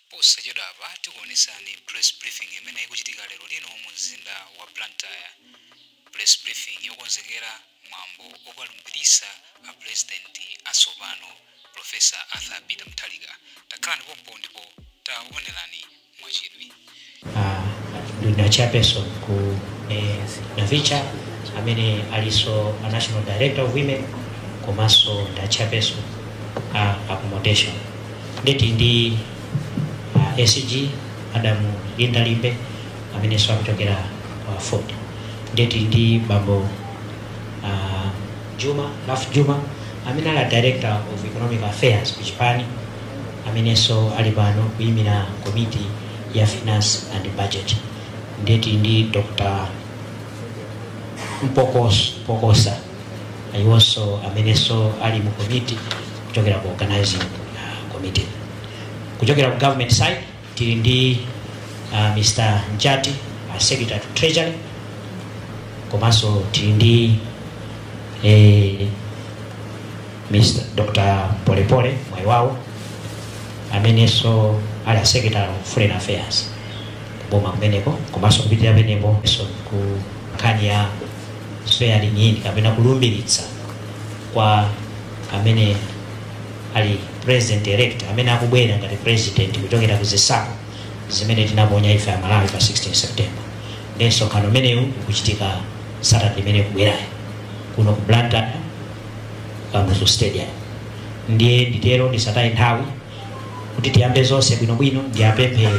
Posachedwapa tikuonetsani press briefing imene ikuchitika lero lino mu mzinda wa Blantyre. Press briefing yokonzekera mwambo okalumbiritsa a president atsopano, Prof. Arthur Peter Mutharika. Takhalani pompo ndipo taonelani mwachidwi. Ndi a Chairperson ku eh, Navicha amene aliso a National Director of Women komanso ndi a Chairperson a accommodation nde tili ndi uh, a SG a Madam Linda Limbe ameneso akuchokera ku AFORD nde tili ndi bambo uh, Jooma Ralph Jooma amene ali a Director of Economic Affairs ku chipani amenenso ali pano kuyimira komiti ya finance and budget ndiye tili ndi dr Mpokos- mpokosa iwonso amenenso ali mu komiti kuchokera ku organizing uh, committee kuchokera ku government side tili ndi uh, mr njati a secretary to treasury komanso tili ndi eh, mr dr polepole mwaiwawo amenenso ali a secretary of foreign affairs kuboma kumeneko komanso kupitira peneposo ku nkhani ya swearing in kapena kulumbiritsa kwa amene ali president elect amene akubwera ngati president kuchokera ku zisankho zimene tinaponya ife a Malawi pa 16 September nde msonkhano umenewu ukuchitika Saturday imene ikubwerayo kuno ku Blantyre Kamuzu Stadium ndiye nditero ndisataye nthawi kuti tiyambe zonse bwinobwino ndiyapemphe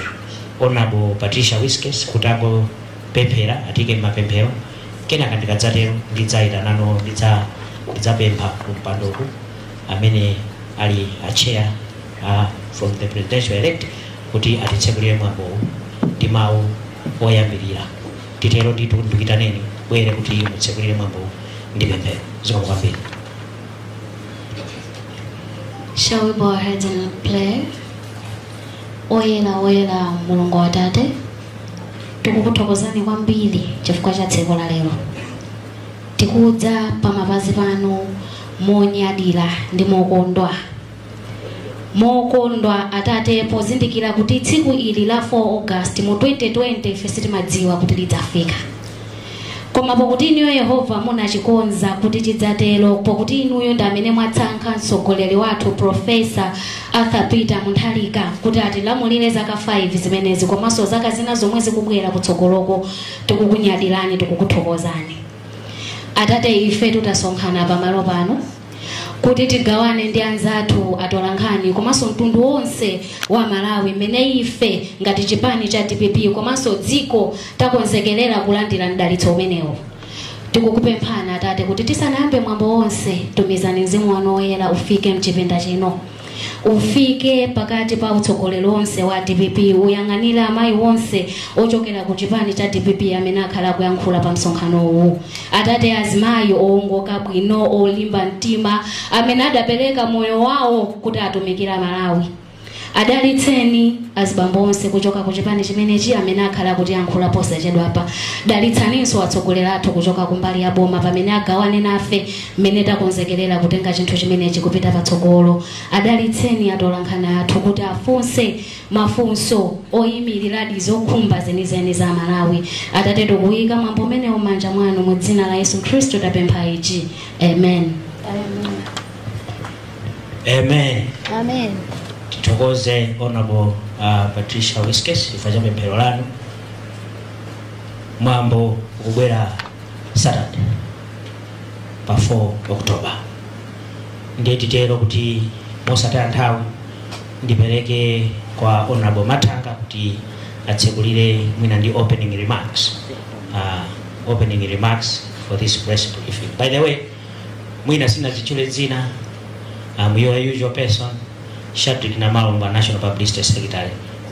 honorable Patricia Wiskes kuti angopemphera atiike m'mapemphero kenaka ndikadzatero ndidzayitanano ndidza ndidzapempha kumpandoku amene ali a chair uh, from the presidential elect kuti atitsekulire mwambowu ndi mawu oyambirira titero nditu ndikuitaneni bwere kuti mutsekulire mwambowu ndi pemphero zikomo kwambiri Shall we bow our heads and pray? Oyera oyera mulungu atate tikukuthokozani kwambiri chifukwa cha tsiku la lero tikudza pamapazi panu monyadira ndi mokondwa mokondwa atate pozindikira kuti tsiku ili la 4 august mu 2020 ife sitimadziwa kuti lidzafika koma pokuti inuyo yehova munachikonza kuti chidzatero pokuti inuyo ndi amene mwatsankha mtsogoleri wathu profesa arthur peter mutharika kuti atilamulire zaka 5 zimenezi komanso zaka zina zomwe zikubwera kutsogoloko tikukunyadirani tikukuthokozani atate ife tutasonkhana pamalo pano kuti tigawane ndi anzathu atolankhani komanso mtundu wonse wa malawi mmene ife ngati chipani cha dpp komanso dziko takonzekerera kulandira mdalitso umenewo tikukupemphani atate kuti tisanayambe mwambo wonse tumizani mzimu wanu woyera ufike mchipinda chino ufike pakati pa utsogoleri wonse wa dpp uyang'anire amayi onse ochokera ku chipani cha dpp amene akhala akuyankhula pa msonkhanowu atate azimayi owongoka bwino olimba mtima amene adapereka moyo wawo kuti atumikira malawi adalitseni azibambo onse kuchoka ku chipani chimenechi amene akhala akutiyankhula posachedwapa dalitsaninso atsogoleri athu kuchoka kumbali ya boma pamene agawane nafe mmene takonzekerera kutenga chinthu chimenechi kupita patsogolo adalitseni atolankhani athu kuti afunse mafunso oyimiriradi zokhumba zenizeni za malawi atate tikuyika mwambo umenewu m'manja mwanu mu dzina la yesu khristu tapempha ichi amen amen amen tithokoze honorable uh, patricia wiskes chifukwa cha pemphero lanu mwambo ukubwera saturday pa 4 october ndiye titero kuti mosataya nthawi ndipereke kwa honorable mathanga kuti atsekulire mwina ndi opening remarks uh, opening remarks for this press briefing by the way mwina sinadzitchule dzina i'm your usual person shadric namalomba national publicity secretary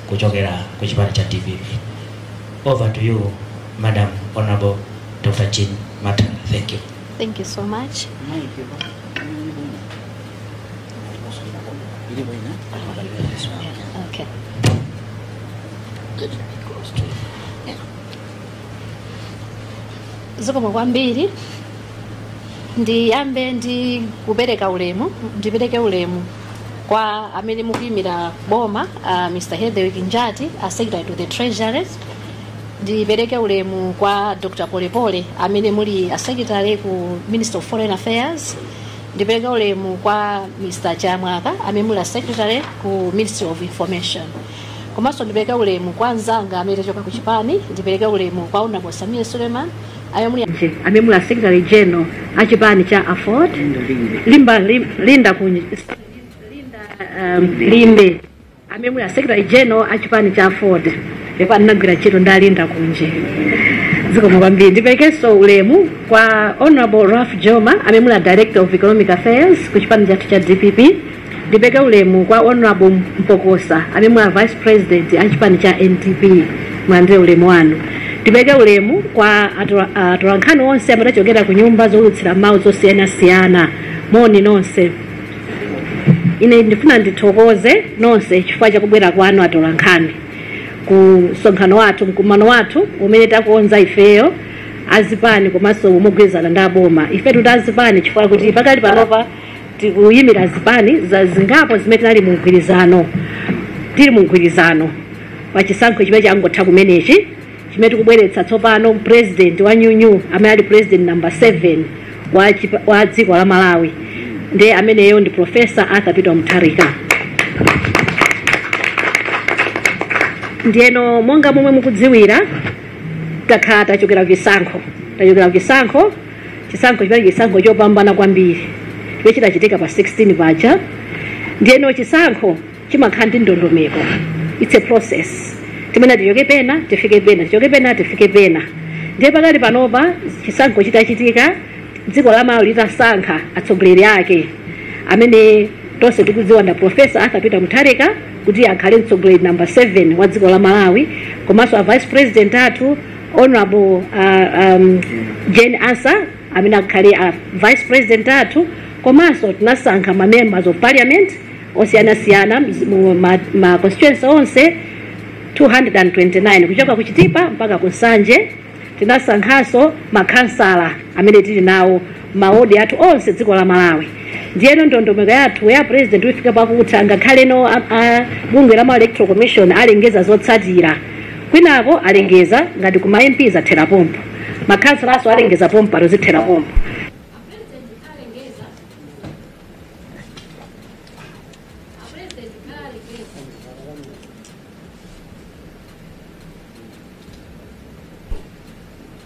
kuchokera ku chipani cha dpp Over to you, Madam Honorable Dr. Jean Mathanga. Thank you. Thank you so much. Okay. zikomo kwambiri ndiyambe ndi kupereka ulemu ndipereke ulemu kwa amene mukuyimira boma uh, mr hetherwick njati a secretary to the treasury ndipereke ulemu kwa dr polepole amene muli a secretary ku ministry of foreign affairs ndipereke ulemu kwa mr chiyamwaka amene muli a secretary ku ministry of information komanso ndipereke ulemu kwa anzanga amene achoka ku chipani ndipereke ulemu kwa honorable sameer suleman Amene muli a Secretary General a chipani cha Aford Linda Lim- Linda Kunj- um, Limbe amene muli a Secretary General a chipani cha Aford pepani ndinagwira ntchito ndi a Linda Kunje zikomo kwambiri ndiperekenso ulemu kwa Honorable Ralph Jooma amene muli a Director of Economic Affairs ku chipani chathu cha DPP Ndipeke ulemu kwa Hon Mpokosa amene muli vice president a chipani cha NDP mulandire ulemu wanu. Ndipeke ulemu kwa atola- atolankhani onse amene achokera ku nyumba zoulutsira mawu zosiyanasiyana moni nonse. Ine ndifuna ndithokoze nonse chifukwa chakubwera kwanu atolankhani ku msonkhano wathu mkumano wathu umene takonza ifeyo azipani komanso mogwirizana ndi aboma. Ife titi azipani chifukwa kuti pakali panopa tikuyimira zipani zingapo zimene tinali mu mgwirizano tili mu mgwirizano pa chisankho chimene changotha kumenechi chimene tikubweretsa tsopano president wa nyuu nyuu amene ali president number 7 wa dziko la malawi ndi ameneyo ndi professor arthur peter mutharika ndiyeno monga momwe mukudziwira takhala tachokera kuchisankho tachokera kuchisankho chisankho chimene chisankho chopambana kwambiri chimene chinachitika pa 16 paja ndiyeno chisankho chimakhala ndi ndondomeko its a process timene tichoke pena tifike pena tichoke pena tifike pena ndiye pakali panopa chisankho chitachitika dziko la malawi litasankha atsogoleri ake amene tonse tikudziwa nda profesa arthur peter mutharika kuti akhale mtsogoleri number 7 wa dziko la malawi komanso a vice president athu Hon. Jane Ansah amene akhale a vice president athu komanso tinasankha ma members of parliament osiyanasiyana mz- mu ma- ma constituency onse 229 kuchoka ku Chitipa mpaka ku Nsanje tinasankhanso makhansala amene tili nawo mawodi athu onse dziko la Malawi. Ndiyeno ndondomeko yathu ya president yafika pakutha ngakhale no a- a- bungwe la ma electoral commission alengeza zotsatira kwinako alengeza ngati kuma MP zathera pompo makhansalaso alengeza pompo zithera pompo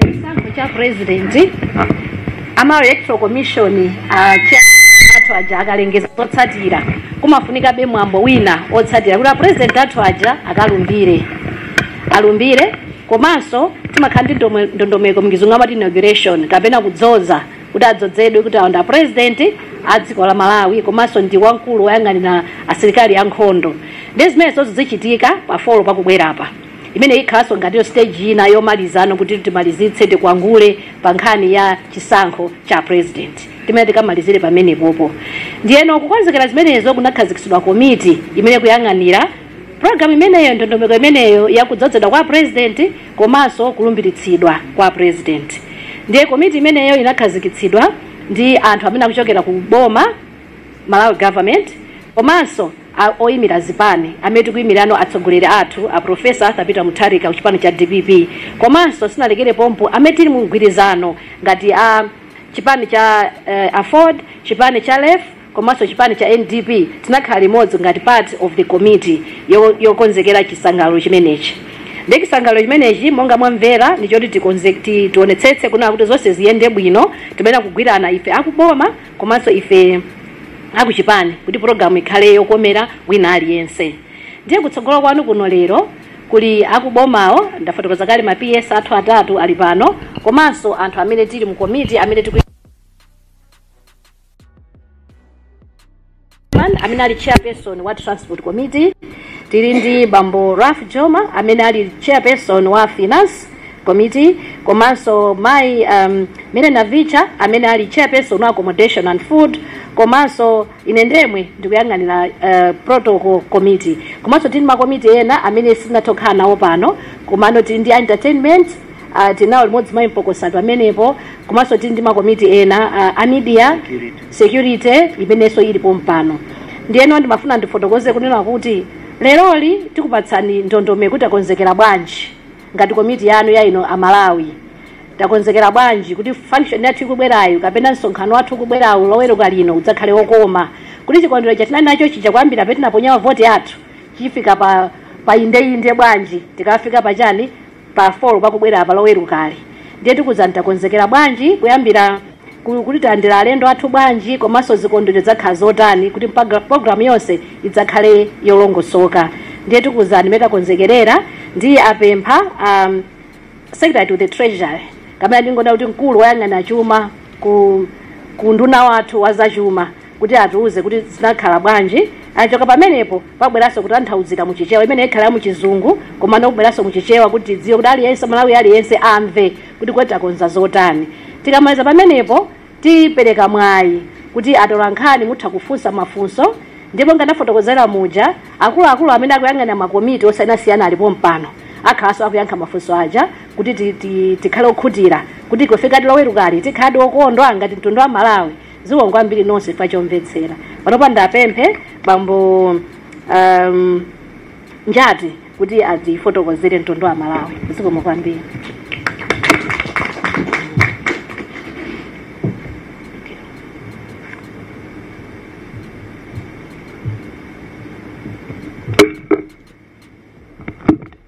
chisankho cha president ama electoral commission athu aja akalengeza zotsatira kumafunika be mwambo wina otsatira kuti a president athu aja akalumbire alumbire komanso timakhala ndi ndome- ndondomeko m'chizungu amati inauguration kapena kudzoza kuti adzozedwe kuti awo ndi apurezidenti a dziko la malawi komanso ndi wamkulu woyang'anira asilikali ankhondo ndi zimene zichitika pa folo pakubwerapa imene ikhalanso ngatiyo stage ina yomalizano kuti timalizitse tikwangule pa nkhani ya chisankho cha purezidenti timene tikamalizire pamenepopo ndiyeno kukonzekera zimenezo kunakhazikitsidwa komiti imene ikuyang'anira programu imeneyo ndondomeko imeneyo yakudzozedwa kwa apurezidenti komanso kulumbiritsidwa kwa President. Ndiye komiti imeneyo inakhazikitsidwa ndi anthu amene akuchokera ku boma, Malawi Government, komanso a- oyimira zipani amene tikuyimirano atsogoleri athu a Professor Arthur Peter Mutharika ku chipani cha DPP komanso sinalekere pompo amene tili mu mgwirizano ngati a chipani cha eh, Afford, chipani cha LEF komanso chipani cha NDP tinakhala limodzi ngati part of the committee yo- yokonzekera chisangalalo chimenechi ndi chisangalalo chimenechi monga mwamvera ndi choti tikonze ti- tionetsetse kunena kuti zonse ziyende bwino timayenera kugwirana ife akuboma komanso ife akuchipani kuti pulogalamu ikhale yokomera wina aliyense ndiye kutsogolo kwanu kuno lero kuli akubomawo ndafotokoza kale ma ps athu atatu ali pano komanso anthu amene tili mu komiti amene tiku Man, amene ali chairperson wa transport committee tili ndi bambo Ralph Jooma amene ali chairperson wa finance committee komanso mayi um, Mary Navicha amene ali chairperson wa accommodation and food komanso ine ndemwe ndikuyang'anira uh, protocol committee komanso tili makomiti ena amene sitinatokhala nawo pano komano tili ndi entertainment uh, tinawo limodzi mayi Mpokosa pamenepo komanso tili ndi makomiti ena uh, a media security imenenso ili pompano ndiyeno ndimafuna ndifotokoze kunena kuti leroli tikupatsani ndondomeko kuti takonzekera bwanji ngati komiti yanu ya inu amalawi takonzekera bwanji kuti function yathu ikubwerayo kapena msonkhano wathu ukubwerawo loweruka lino udzakhale wokoma kuti chikondwero chatinali nacho chija kuyambira pamene tinaponya voti yathu chifike pa pa indeinde bwanji tikafika pachani pa four pakubwera apa lowerukali ndiye tikuuzani takonzekera bwanji kuyambira ku- kuti tilandira alendo athu bwanji komanso zikondwerero zidzakhala zotani kuti mpaga- programu yonse idzakhale yolongosoka ndiye tikuuzani mmene takonzekerera ndiye ndiwapempha um, secretary to the treasury kapena ndingonena kuti mkulu woyang'ana chuma ku ku nduna wathu wa zachuma kuti atiuze kuti zinakhala bwanji. Akachoka pamenepo pabweranso kutanthauzira mu Chichewa, imeneyi ikhala ya mu Chizungu komano kubweranso mu Chichewa kuti tidziwe kuti aliyense, Mmalawi aliyense amve kuti kodi takonza zotani. Tikamaliza pamenepo tipereka mwayi kuti atolankhani mutha kufunsa mafunso ndipo monga ndafotokozera muja, akuluakulu amene akuyang'anira makomiti osiyanasiyana ali pompano akhalanso akuyankha mafunso aja kuti ti, ti, tikhale okhutira kuti pofika Lowerukali tikhaladi okondwa ngati mtundu wa Malawi. zikomo kwambiri nonse chifukwa chomvetsera panopa ndiwapemphe bambo um, njati kuti adzafotokozere mtundu wa malawi zikomo kwambiri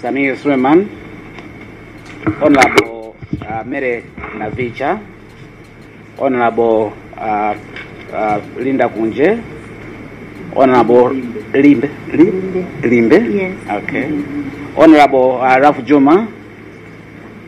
Samir Suleiman, Honorable uh, Mary Navicha, Honorable uh, uh, Linda Kunje, Honorable Limbe. Limbe. Limbe? Yes. Okay. Honorable uh, Ralph Juma,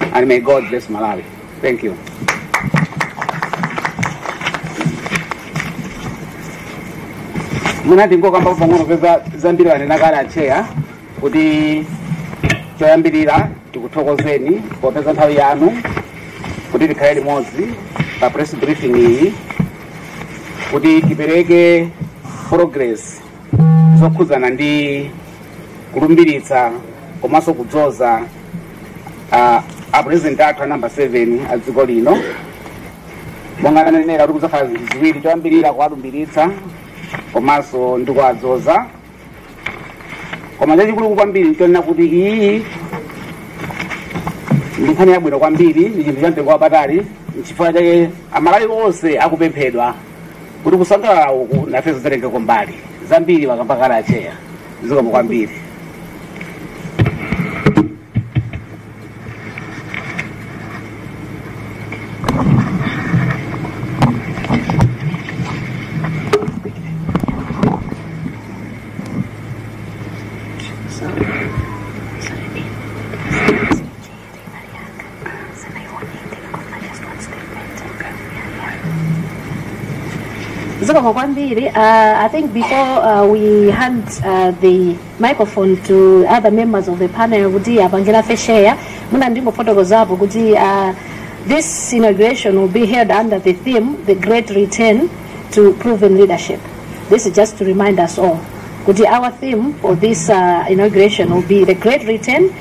and may God bless Malawi. Thank you. mwina tingokambapo pang'ono poti zambiri wanena kale atcheya kuti choyambirira tikuthokozeni popeza nthawi yanu kuti tikhale limodzi pa press briefing iyi kuti tipereke progress zokhudzana ndi kulumbiritsa komanso kudzoza ah, a president athu a namba 7 a dziko lino monga anenera kuti kudzakhala zinthu ziwiri choyambirira kuwalumbiritsa komanso ndi kuwadzoza koma chachikulu kwambiri nchonena kuti iyi ndi nkhani yabwino kwambiri ndi chinthu cha mtengo wapatali nchifukwa chake amalawi onse akupemphedwa kuti kusangalala uku nawonso atengeko mbali zambiri akamba kale atcheya zikomo kwambiri zikomo kwambiri uh, i think before uh, we hand uh, the microphone to other members of the panel kuti apangira feshare muna ndingofotokozapo kuti uh, this inauguration will be held under the theme the great return to proven leadership this is just to remind us all kuti our theme for this uh, inauguration will be the great return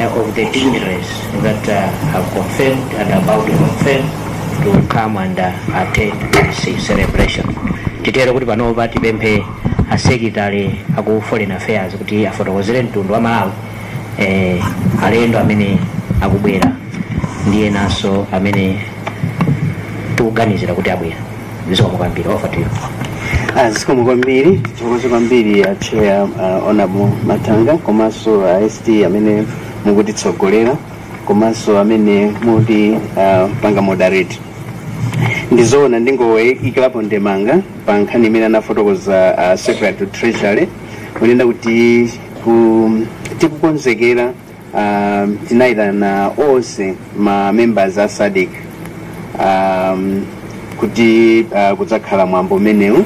uh, of the dignitaries that uh, have confirmed and about to confirm to come and uh, attend this celebration. Titero kuti panopa tipemphe a Secretary aku foreign affairs kuti afotokozere mtundu wa Malawi eh, alendo amene akubwera ndi enanso amene tikuganizira kuti abwera. zikomo kwambiri over to you zikomo kwambiri tithokoze kwambiri a chair uh, honorable Mathanga komanso uh, st amene mukutitsogolera komanso amene mukuti uh, panga moderate ndizoona ndingoikirapo ndemanga pa nkhani imene anafotokoza uh, secretary to treasury kunena kuti ku- tikukonzekera um, tinaitana onse ma members a SADC um, kuti uh, kudzakhala mwambo umenewu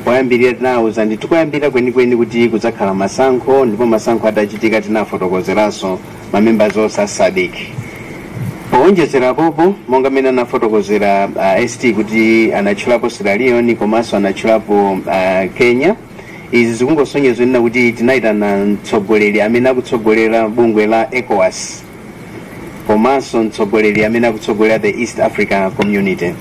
poyambirira tinawuza ndi tikuyambira kwenikweni kuti kudzakhala masankho ndipo masankho atachitika tinafotokozeranso ma members onse a SADC powonjezera apo monga mmene anafotokozera uh, ST kuti anatchulapo Sierra Leone komanso anatchulapo uh, Kenya Izi zikungosonyeza zonena kuti tinayitana mtsogoleri amene akutsogolera bungwe la ECOWAS komanso mtsogoleri amene akutsogolera the East Africa Community.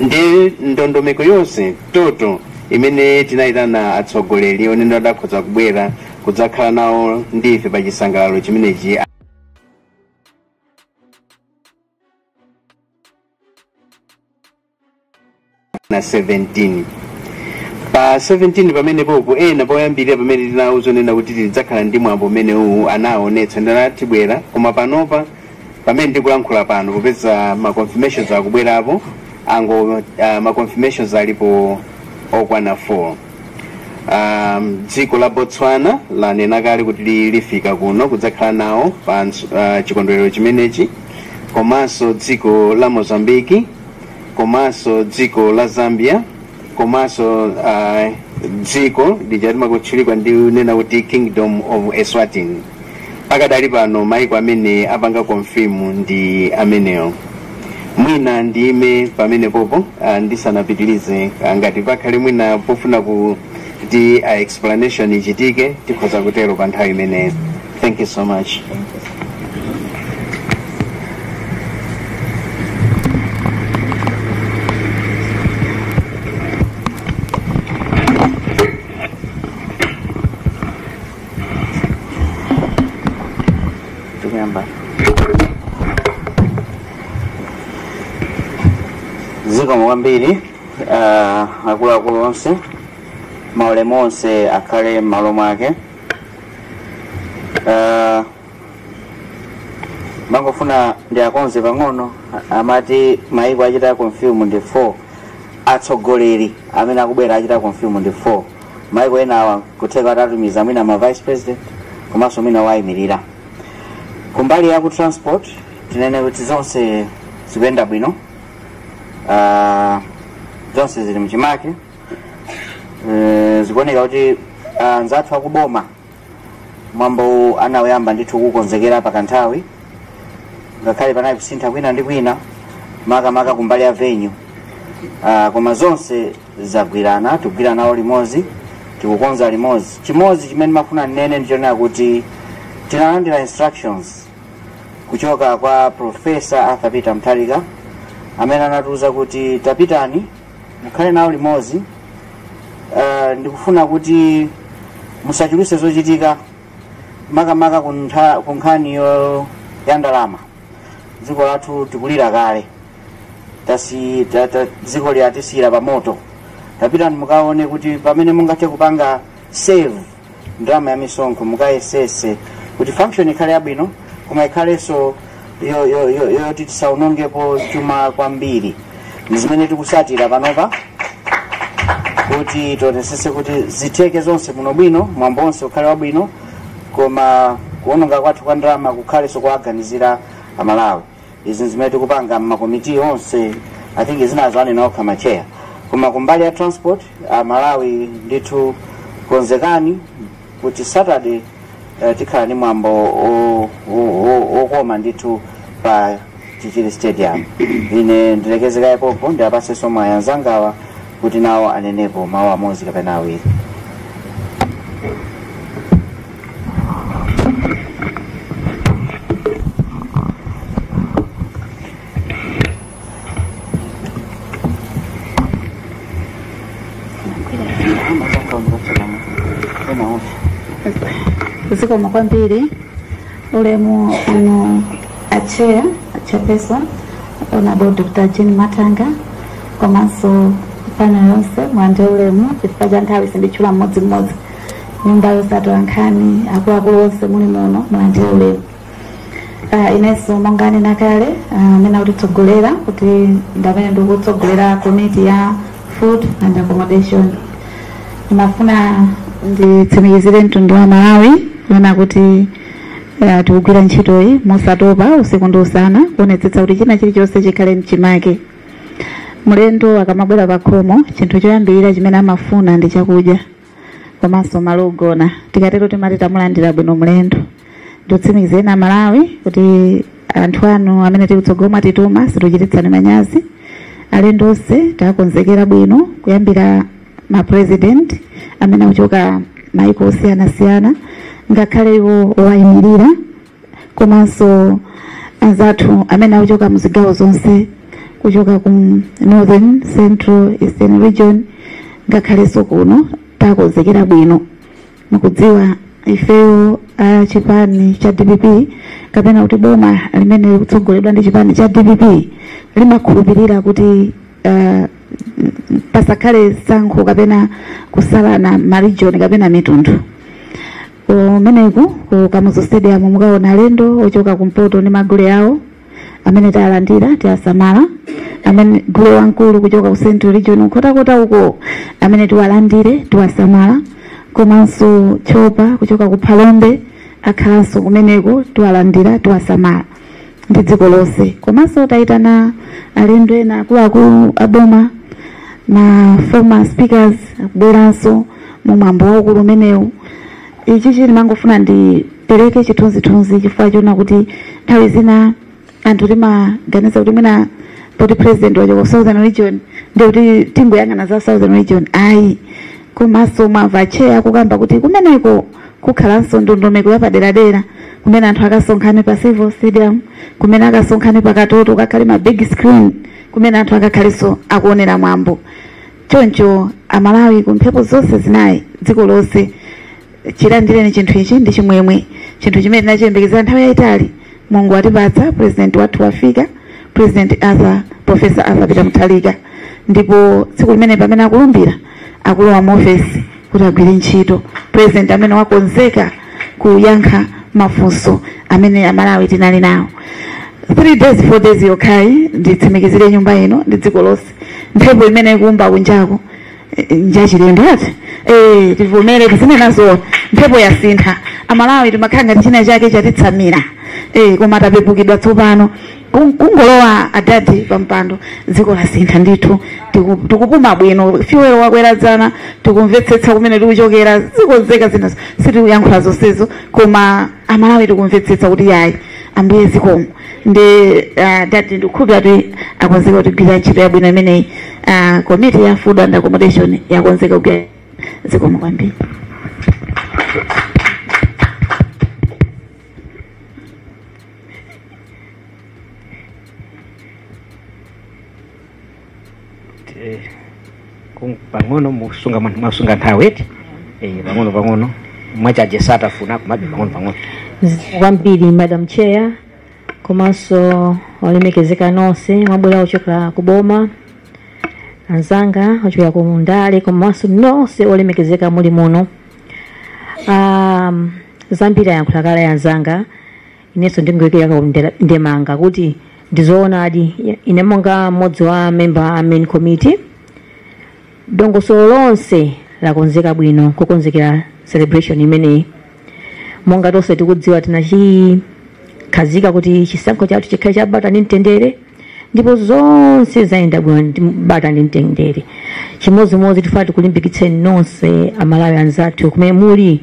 Ndi ndondomeko yonse toto imene tinayitana atsogoleri oona atakhoza kubwera kudzakhala nawo ndi ife pa chisangalalo chimenechi. na 17 pa 17 pamenepopo ena poyambirira pamene tinawauza zonena kuti tidzakhala ndi mwambo umene uwu anaonetsa ndithu atibwera koma panopa pamene ndikulankhula pano popeza ma confirmations akubwerapo ango uh, ma confirmations alipo okwana 4 um, dziko la botswana lanena kale kuti li- lifika kuno kudzakhala nawo pa ns- uh, chikondwerero chimenechi komanso dziko la mozambiki komanso dziko la zambia komanso uh, dziko lija limatchulidwa ndi kunena kuti kingdom of eswatini pakadali pano maiko amene apanga konfimu ndi amenewo mwina ndiime pamenepopo uh, ndisanapitirize uh, ngati pakhale mwina pofuna ku kuti a explanation ichitike tikhoza kutero pa nthawi imeneyo thank you so much zikomo kwambiri uh, akuluakulu onse maulemu onse akhale m'malo mwake uh, mangofuna ndiwakonze pang'ono amati maiko achita confirm ndi 4 atsogoleri amene akubwera achita confirm ndi 4 maiko enawa kutheka atatitumizira mwina ma vice president komanso mwina owayimirira kumbali ya ku transport tinene kuti zonse zikuyenda bwino Ah, zonse zili mchimake Eh, zikuoneka kuti ah, anzathu akuboma mwambowu anawuyamba ndithu kukonzekera pakanthawi ngakhale panali kusintha kwina ndi kwina makamaka kumbali ya venyu Ah, koma zonse zagwirana tikugwira nawo limodzi tikukonza limodzi chimodzi chimene ndimafuna ndinene ndichonena kuti tinalandira instructions kuchoka kwa profesa arthur peter mutharika amene anatiuza kuti tapitani mukhale nawo limodzi uh, ndikufuna kuti musachuluse zochitika makamaka kuntha- ku nkhani yo- ya ndalama dziko lathu tikulira kale tasi ta- ta- dziko ili atisiyira pamoto tapitani mukaone kuti pamene mungathe kupanga save ndalama ya misonkho mukayesese kuti function ikhale yabwino koma ikhalenso yo- yo- yo- yoti tisaonongepo chuma kwambiri ndi zimene tikusatira panopa kuti tionesese kuti zitheke zonse bwinobwino mwambo onse ukhale wabwino koma kuononga kwathu kwa ndalama kukhalenso kuwaganizira amalawi izi zimene tikupanga mmakomiti onse i think zinazo anena okha matcheya koma kumbali ya transport amalawi ndithu konzekani kuti saturday eh, tikhala ndi mwambo o- o- o- okoma ndithu pa chichiri stadium ine ndilekeze kaye pompo ndiwapatsenso mwayi anzangawa kuti nawo anenepo mawu amodzi kapena awiri zikomo kwambiri ulemu inu atcheya chairperson honorable dr jean mathanga komanso panel yonse mulandire ulemu chifukwa cha nthawi sinditchula mmodzimmodzi nyumba yonse atolankhani akuluakulu onse muli muno mulandire ulemu Ah, inenso monga anena kale ah, amene akutitsogolera kuti ndamene ndikutsogolera komiti ya food and accommodation ndimafuna nditsimikizire mtundu wa amalawi kunena kuti eh, tikugwira ntchitoyi mosatopa usiku ndi usana kuonetsetsa kuti china chilichonse chikhale mchimake mlendo akamabwera pakhomo chinthu choyambirira chimene amafuna ndi chakudya komanso malo ogona tikatero timati tamulandira bwino mlendo ndikutsimikizireni amalawi kuti anthu anu amene tili kutsogolo mwatituma situchititsani manyazi alendo onse takonzekera bwino kuyambira ma president amene akuchoka maiko osiyanasiyana ngakhale iwo owayimirira komanso anzathu amene akuchoka mu zigawo zonse kuchoka ku northern central eastern region ngakhalenso kuno takonzekera bwino mukudziwa ifeyo a chipani cha dpp kapena kuti boma limene likutsogoledwa ndi chipani cha dpp limakhulupirira kuti uh, pasakhale sankho kapena kusalana marijoni kapena mitundu kumeneko ku kamuzu stadium mukaona alendo ochoka kumpoto ndi magule awo amene tiwalandira tiwasamala amene gule wamkulu kuchoka ku central region nkhotakota uko amene tiwalandire tiwasamala komanso tchopa kuchoka ku phalombe akhalanso kumeneko tiwalandira tiwasamala ndi dziko lonse komanso tayitana alendo ena akuluakulu a boma ma former speakers akubweranso mu mwambo waukulu umenewu ichichi ndimangofuna ndipereke chithunzithunzi chifukwa chonena kuti nthawi zina anthu timaganiza kuti mwina poti president wachoka ku southern region ndi kuti tingoyang'ana za southern region ayi komanso mwamva atcheya akukamba kuti kumeneko kukhalanso ndondomeko yapaderadera kumene anthu akasonkhane pa civil stadium kumene akasonkhane pa katoto kukakhale ma big screen kumene anthu akakhalenso akuonera mwambo choncho amalawi ku mphepo zonse zinayi dziko lonse chilandireni chinthu ichi ndi chimwemwe chinthu chimene tinachiyembekezera nthawi yayitali mulungu watipatsa president wathu wafika president arthur professor arthur peter mutharika ndipo tsiku limene pamene akulumbira akulowa muofesi kuti agwire ntchito, president amene wakonzeka kuyankha mafunso amene amalawi tinali nawo 3 days 4 days yokhayi nditsimikizire nyumba ino ndi dziko lonse mphepo imene ikuomba kunjako eh, njachilendo ati eh tivomere tizinenazo mphepo yasintha amalawi timakhala ngati china chake chatitsamira eh koma tapepukidwa tsopano Kung- kungolowa adadi pampando dziko lasintha ndithu tiku- tikupuma bwino fuel wakwera dzana tikumvetsetsa kumene tikuchokera zikonzeka zinazo sitikuyankhula zonsezo koma amalawi tikumvetsetsa kuti yayi ambuye zikomo ndi ah, dadi ndikukhulupira kuti akonzeka kugwira ntchito yabwino imeneyi Ah, komiti ya food and accommodation yakonzeka kugwira zikomo kwambiri Eh, kung- pang'ono musunga man- mwasunga nthawi eti Eh, pang'ono pang'ono mwachaje satafuna kumabe pang'ono pang'ono zikomo kwambiri madam chair komanso olemekezeka nonse mwabwera ochokera ku boma anzanga ochokera ku ndale komanso nonse olemekezeka muli muno um, zambiri ayankhula kale anzanga inenso ndingoyikira ka- ndemanga kuti ndizoonadi ine monga mmodzi wa memba a main committee dongosolo lonse lakonzeka bwino kukonzekera celebration imeneyi monga tonse tikudziwa tinachikhazika kuti chisankho chathu chikhale chabata ndi mtendere ndipo zonse zayenda bwino ndi bata ndi mtendere chimodzimodzi tifuna tikulimbikitseni nonse amalawi anzathu kumene muli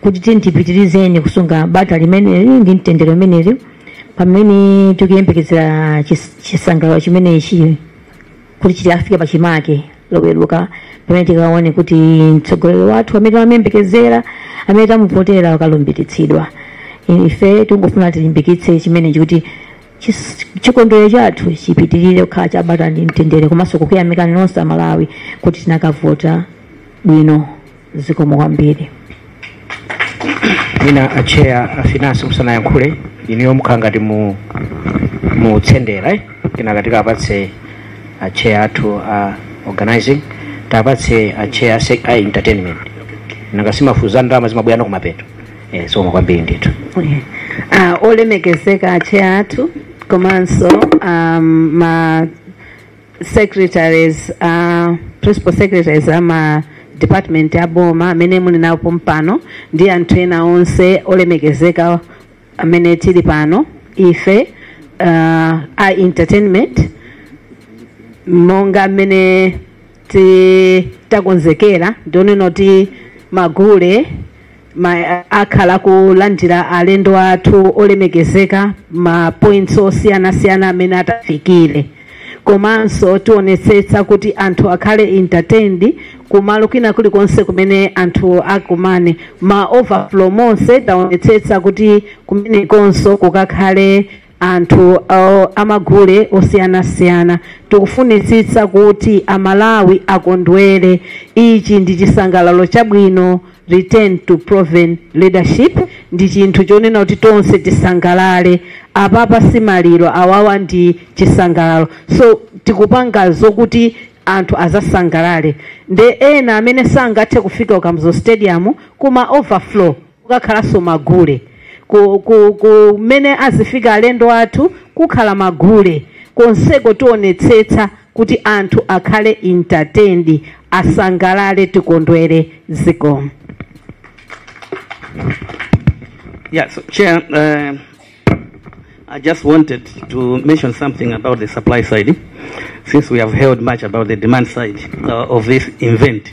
kuti tiyeni tipitirizeni kusunga bata limeneli ndi mtendere umenewu pamene tikuyembekezera chis- chisangalalo chimenechi kuti chikafike pachimake loweruka pamene tikaone kuti mtsogoleri wathu amene tamuyembekezera amene tamuvotera akalumbiritsidwa ife tingofuna tilimbikitse chimenechi kuti Chis- chikondwerero chathu chipitirire kukhala cha bata ndi mtendere komanso kukuyamikani nonse amalawi kuti tinakavota bwino zikomo kwambiri mwina acheya afinansi musanayankhule inuyo mukhala ngati mu- mutsendera eh? kenaka tiapatse acheya athu a organizing tiapatse acheya a entertainment nanga si paja za ndalama zimabwera kumapeto Eh, zikomo kwambiri ndithu uh, olemekezeka acheya athu komanso um, ma secretaries uh, principal secretaries ama department a boma amene muli nawo pompano ndi anthu ena onse olemekezeka amene tili pano ife uh, a entertainment monga mmene ti- takonzekera ndi yonena kuti magule akhala akulandira alendo athu olemekezeka ma points osiyanasiyana amene atafikire komanso tionetsetsa kuti anthu akhale entertained kumalo kwina kulikonse kumene anthu akumane ma overflow monse taonetsetsa kuti kumenekonso kukakhale anthu amagule osiyanasiyana tikufunitsitsa kuti amalawi akondwere ichi ndi chisangalalo chabwino return to proven leadership ndi chinthu chonena kuti tonse tisangalale apapa si maliro awawa ndi chisangalalo so tikupanga zokuti anthu azasangalale nde ena amene sangathe kufika ku Kamuzu stadium kuma overflow kukakhalanso magule ku- ku- kumene azifika alendo athu kukhala magule konseko tionetsetsa kuti anthu akhale entertained asangalale tikondwere zikomo Yeah, so Chair, uh, I just wanted to mention something about the supply side, since we have heard much about the demand side uh, of this event.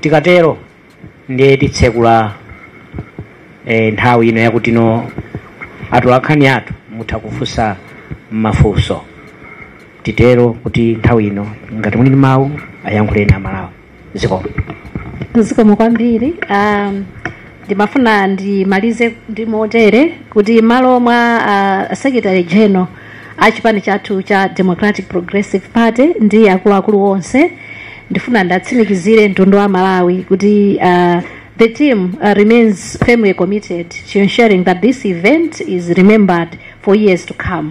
tikatero ndiye titsekula eh, nthawi ino yakuti no atolankhani athu mutha kufunsa mafunso titero kuti nthawi ino ngati muli ndi mawu ayankhuleni amalawi zikomo zikomo kwambiri um, ndimafuna ndimalize ndi motere kuti mmalo mwa uh, secretary general a chipani chathu cha democratic progressive party ndi akuluakulu onse ndifuna ndiwatsimikizire mtundu wa amalawi kuti uh, the team uh, remains firmly committed to ensuring that this event is remembered for years to come